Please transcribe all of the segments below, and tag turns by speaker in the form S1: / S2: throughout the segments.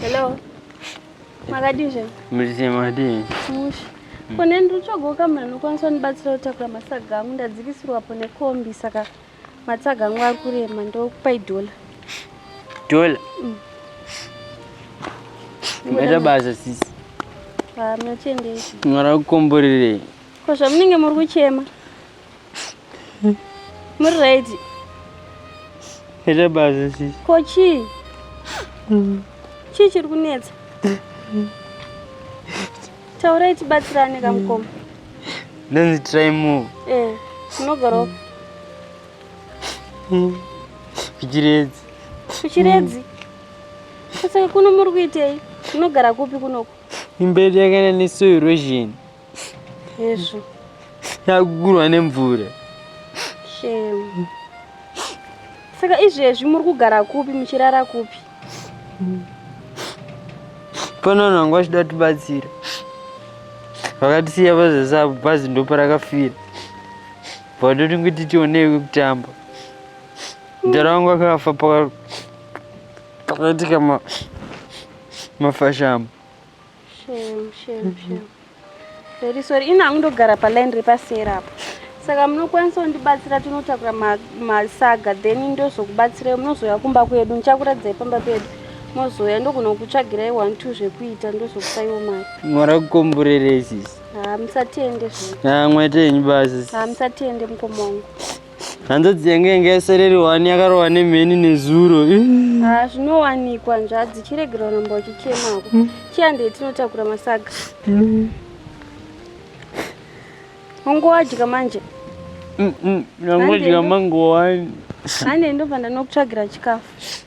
S1: Hello. Makadii zvenyu? Muzise
S2: makadii? Mushe. Mm.
S1: Kone ndiri kutsvaga ukamuna anokwanisa kundibatsira kutakura matsaga angu ndadzikisirwapo nekombi saka matsaga angu ari kurema ndokupai dhola. Dhola?
S2: Mm. Mbaita basa sisi. Ah,
S1: munochiendei? Mwara
S2: kukomborerei? Ko zvamunenge
S1: muri kuchema? muri right ita
S2: basa sisi ko chii
S1: chii chiri kunetsa taurai tibatsirane kamukoma ndanzi
S2: try more eh unogaroka kuchiredzi kuchiredzi
S1: saka kuno muri kuitei unogara kupi kunoko imberi yakaenda
S2: nesoil erosion hezvo yakugurwa nemvura shame
S1: saka izvezvi muri kugara kupi muchirara kupi
S2: pane vanhu vanga vachida tibatsira vakatisiya vazasapo bhazi ndoparakafira vatoti kuti tionei kwekutamba mdara wangu akafa pakaitika mafashamo Shame,
S1: shame, shame. Very sorry. Ini hangu ndogara paline repasera apo. Saka munokwanisa kundibatsira tinotakura masaga ma then ndozokubatsirai munozouya kumba kwedu ndichakuradzai pamba pedu mozouya ndogona kukutsvagirai one two zvekuita ndozokusaiwo mari mwari kukomborerei
S2: sisi ha musatende zve
S1: ha mwaita henyu basi
S2: ha musatende mukoma
S1: wangu hanzvadzi
S2: yange yange yasereri wani yakarova nemheni nezuro ah, zvinowanikwa
S1: nzvadzi chiregera uramba uchichemako hmm. chiandei tinotakura masaga ungowadya hmm. manje
S2: nangodya hmm, mangowani ane ndobva
S1: ndanokutsvagira chikafu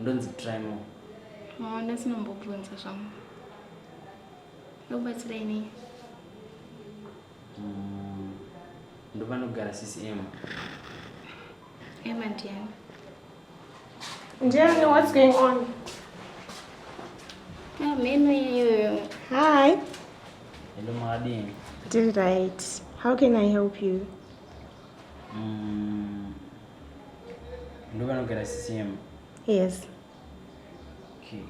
S2: ndonzi trimo maona
S1: sinombobvunza zvangu ndokubatsirai nei mm,
S2: ndovanogara sisi ema
S1: ema ndiani ndiani
S3: what's going on ah,
S1: meno iyoyo hi
S3: hello
S2: maadini did right
S3: how can i help you mm.
S2: ndo vanogara ccm yes okay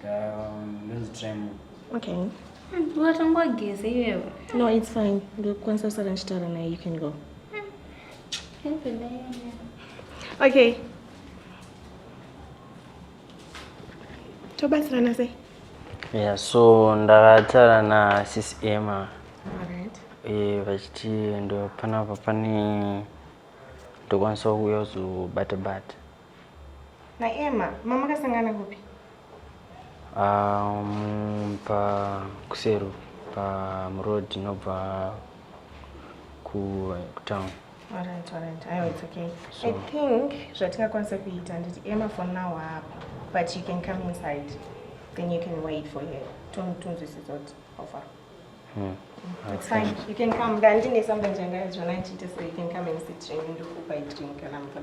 S2: um, ndonzi try more okay
S3: ungatangwa
S1: geze iwewe no it's fine
S3: ndokwanisa kusara ndichitaura naye you can go okay tobatsirana sei yeah so
S2: ndakataura nasis emma
S3: eh, vachiti
S2: ndo panapa pane ndokwanisa kuuya kuzobata bata
S3: naemma mamakasangana kupi
S2: um, pakusero pamuroad inobva kutown Alright, alright.
S3: Ayo, it's okay. So, I think zvatingakwanisa kuita nditi Emma for now hapa but you can come inside then you can wait for her tonzwisisa kuti how far Hmm. Mm. It's okay. fine. You can come. Ndandine something changaizvona ndichiita so you can come and sit and ndokupa drink kana mvura.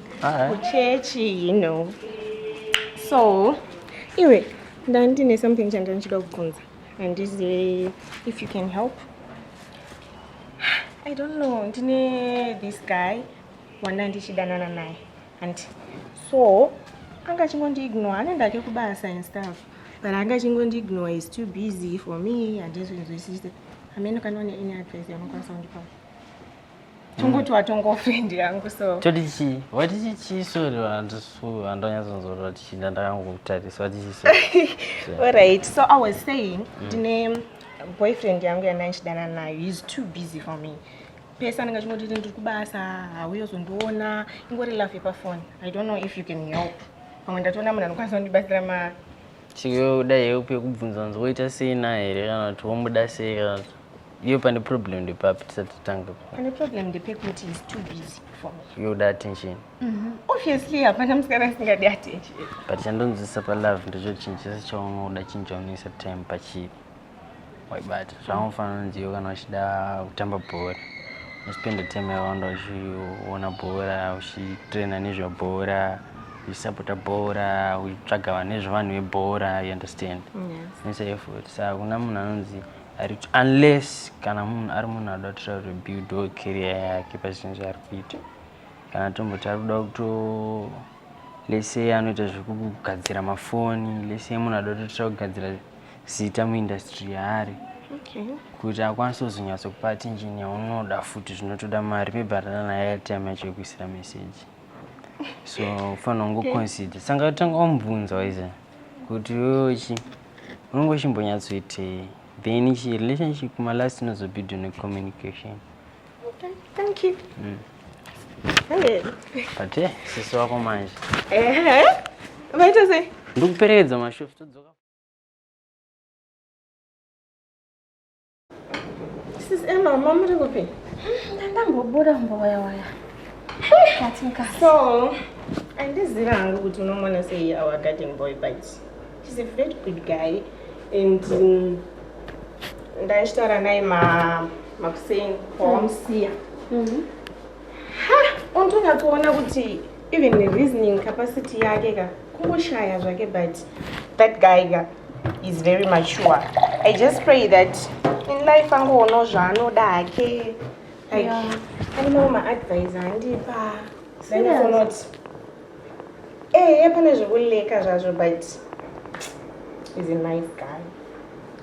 S3: kuchechi you know so iwe ndandine something chandanga ndichida kubvunza handizive if you can help i don't know ndine this guy wanda ndichidanana naye and so anga achingondiignore anoenda ake kubasa and stuff but anga achingondiignore is too busy for me handizvinzwisise hameno kana une any advice yaunokwanisa kundipa tongoti watongofendi yangu so toti chii wati
S2: chichii sori handonyatsonzorora tichinda ndakangokutarisa wati chii alright so
S3: i was saying mm. ndine mm. boyfriend yangu yandandichidana nayo he's too busy for me pese anenge achingoti ndiri kubasa hauye uzondiona ingori love yepafoni i don't know if you can help pamwe ndatoona munhu anokwanisa kundibatsira ma chikuyo kudai
S2: yeupi yekubvunza nzi woita sei na here kana kuti womuda sei kana kuti Iyo pane problem ndepapi tisati tange. Pane problem
S3: ndepekuti is too busy for me. Yoda attention.
S2: Mm -hmm. Obviously
S3: hapana musikana asingadi attention. But chandonzwisa
S2: pa love ndicho chinhu chese chaunoda chinhu chaunoisa time pachiri. Waibata zvaunofanira kunzi iwe kana uchida kutamba bhora. Unospenda time yawanda uchiona bhora, uchitraina nezvebhora, uchisapota bhora, uchitsvaga nezvevanhu vebhora, you understand? Yes. Unoisa effort.
S3: Saka
S2: kuna munhu anonzi unless kana munhu ari munhu anoda kutoita kuti build or career yake pazvinhu zvaari kuita kana tomboti ari kuda kuto lese anoita zvekugadzira mafoni lese munhu anoda kutoita kugadzira zita muindustry yaari
S3: kuti akwanise
S2: kuzonyatso kupa attention yaunoda futi zvinotoda mari maybe atana naye atime yacho yekuisira meseji so ufanira kungoconsider sanga tanga wamubvunza waiza kuti wewechi okay. unenge uchimbonyatsoitei then chi relationship kuma last inozobuild ne communication okay,
S3: thank you mm. hey. but
S2: hey, eh, sisi wako manje ehe
S3: vaita sei ndikuperekedza mashof
S2: todzoka
S3: Sis Emma, mama muri kupi? Ndandangobuda
S1: mboya waya. Katinka. So,
S3: andiziva hangu kuti unomona sei our garden boy but she's a very good guy and um, ndaishitaura naye makuseni pawamsiya. Mm. Mm-hmm. Ha, untonyakuona kuti even reasoning capacity yake ka kungoshaya zvake but that guy ka is very mature i just pray that in life angoonawo zvaanoda hake like ainawo maadvise andipa zaifonot ehe eh, eh, pane zvekuleka zvazvo but is a nice guy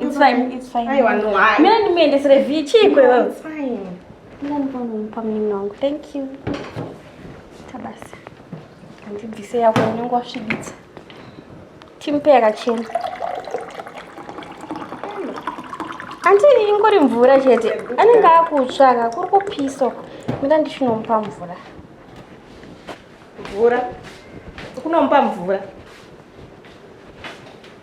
S1: It's fine, it's fine. I wonder why. Mimi
S3: ni mende sere
S1: vichi kwa wewe.
S3: It's fine. Mimi ni mwana
S1: mpa mimi wangu. Thank you. Tabasa. Ndi bise ya kwa nyongo ashibitsa. Timpe yakachena. Anti ingori mvura chete. Anenge akutsvaka kuri kupisa uko. Mimi ndishinomupa mvura.
S3: Mvura. Kunomupa mvura.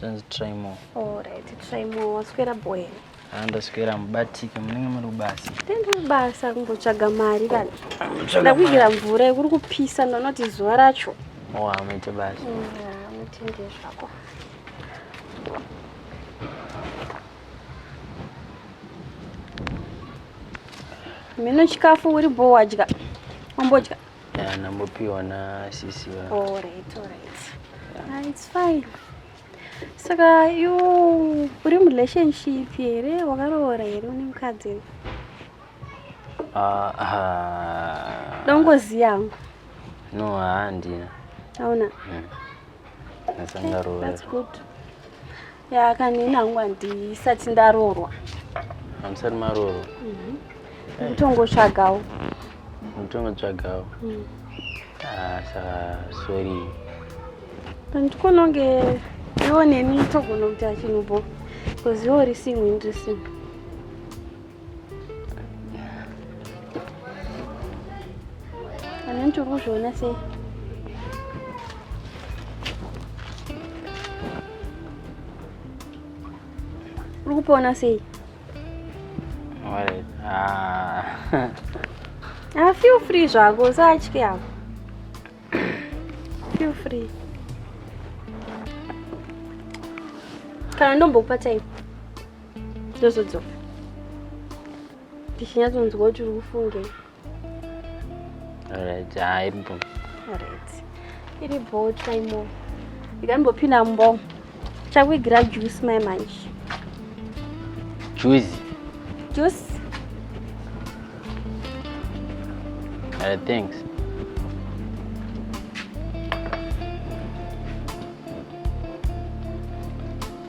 S1: Tanzi
S2: try more. All right, try
S1: more. Waswera boy. Ah, ndaswera
S2: mubatike munenge muri kubasa. Tende kubasa
S1: kumbotsvaga mari kana. Ndakugira mvura yekuri kupisa ndonoti zuva racho. Oh, amuite
S2: basa. Mm, ah, mutende
S1: zvako. Mino chikafu uri bho wadya. Wambodya. Yeah,
S2: nambopiwa na sisi va. All right, all
S1: right. Yeah. Ah, it's fine. Saka you uri mu relationship here wakaroora here une mukadzi here? Ah, ah. Dongozi yangu. No,
S2: handina. Hauna.
S1: Mm. That's okay,
S2: that's good.
S1: ya kanini hangu
S2: handisati
S1: ndaroorwa hamusati
S2: maroorwa mhm. eh.
S1: mutongotsvagawo
S2: mutongotsvagawo mm. ah, saka sorry pandikononge
S1: iwo neni togonokuta chinhu bo bcause iwo risingwi ndrisingwi Anantu uri kuzviona sei? Uri kupona sei?
S2: Ah.
S1: ah, feel free zvako, usatye hapo. Feel free. Kana ndombokupa time. ndozodzoka ndichinyatsonzwa kuti uri kufungei
S2: alright hayi mbo alright
S1: iri bho chaimo ndikambopinda mbo chakuigira juice mai manje
S2: juice
S1: juice
S2: alright thanks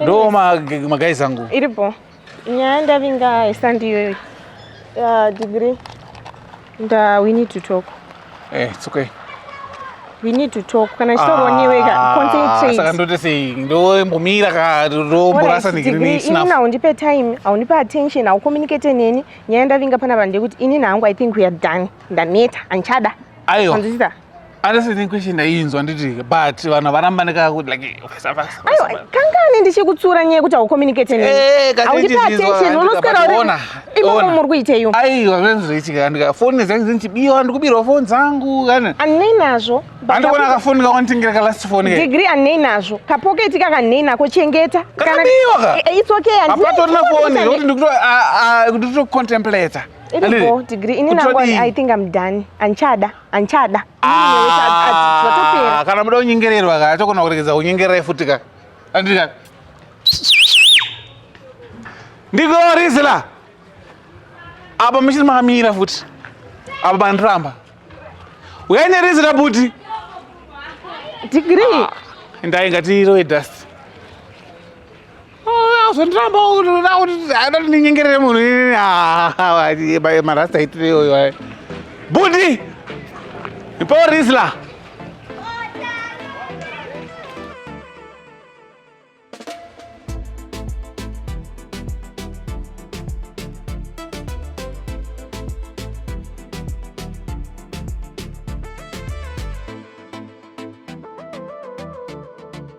S4: Ndo magai zangu. Iripo.
S3: Nyaya ndavinga isandi iyoyo. Uh, degree. Nda we need to talk. Eh, it's okay.
S4: We
S3: need to talk. Kana chitoroni wega ah, concentrate. Saka ndote sei? Ndo
S4: mbomira ka romborasa degree sina. Ini nawo ndipe
S3: time, awunipe attention, awu communicate neni. Nyaya ndavinga pana vanhu kuti ini nangu I think we are done. Ndaneta, anchada. Aiwa. Anzita. Honestly, ni question
S4: ndainzwa nditi but vanhu varamba ndikaka kuti like aiwa kangani
S3: ndichikutsura nyaya kuti aucommunicate neni eh, aundipe attention unoswera uri imomo muri kuiteyo aiwa zvezvichitika
S4: ndika foni dzangu dzinichibirwa ndikubirwa foni dzangu kana anei nazvo
S3: andikuona kafoni
S4: kawanditingira ka last foni degree anei nazvo
S3: kapoketi kaka nei nako chengeta kanabiwa ka eh,
S4: eh, it's okay
S3: apatorina foni
S4: kuti ndikuto ndikuto contemplate iripo degree
S3: ini nangu i think i'm done anchada anchada
S4: ah, kana muda kunyengererwa ka atokona kuregedza kunyengerai futi ka andika ndiko rizila apa muchiri makamira futi apa mandiramba uyai nerizila buti digiri
S3: ah, ndainga tirowe
S4: dust Zvondiramba kuti unoda kuti haida kuti ndinyengerere munhu inini haa marasta itire iyoyo ayo. Budi! Ipawo Rizla!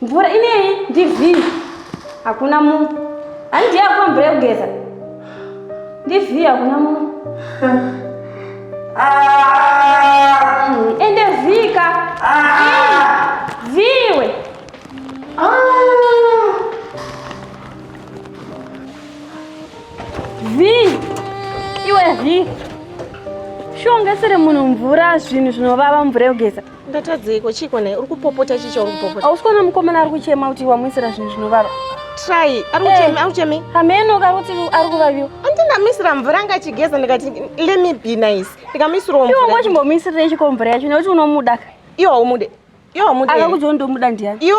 S2: Mvura ineyi
S1: ndivhii. Hakuna munhu. Handii akupa mvura yekugeza. Ndivhii hakuna munhu. Ende vhika. Vhiwe. Vhii. Iwe vhii. Shongesere munhu mvura zvinhu zvinovava mvura yekugeza. Ndatadzeiko chiko
S3: naye uri kupopota chichi chauri kupopota. Hausi kuona mukomana ari kuchema
S1: kuti wamuisira zvinhu zvinovava. Try. Ari eh,
S3: kuchema, ari kuchema. Hameno kari kuti
S1: ari kuvaviwa. Andi ndamisira mvura
S3: anga achigeza ndikati let me be nice. Ndikamisirawo mvura. Iwe wachimbomuisira chiko
S1: mvura yacho nekuti unomuda. Iwe haumude.
S3: Iwe haumude. Akakuti
S1: ndomuda ndiyani? Iwe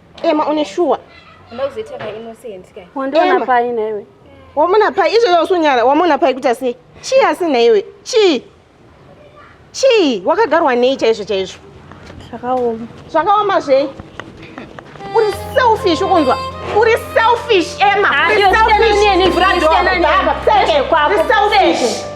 S3: Emma une shuwa. Unozoita ka
S5: innocent kai. Wandiona pai na iwe.
S1: Wamona pai izvo
S3: yausu nyara wamona pai kuita sei? Chi asi na iwe. Chi. Chi wakagarwa nei chaizvo chaizvo. Zvakaoma. Zvakaoma zvei? Uri selfish ukunzwa. Uri selfish Emma. Ah, Uri selfish. Uri selfish. Uri selfish.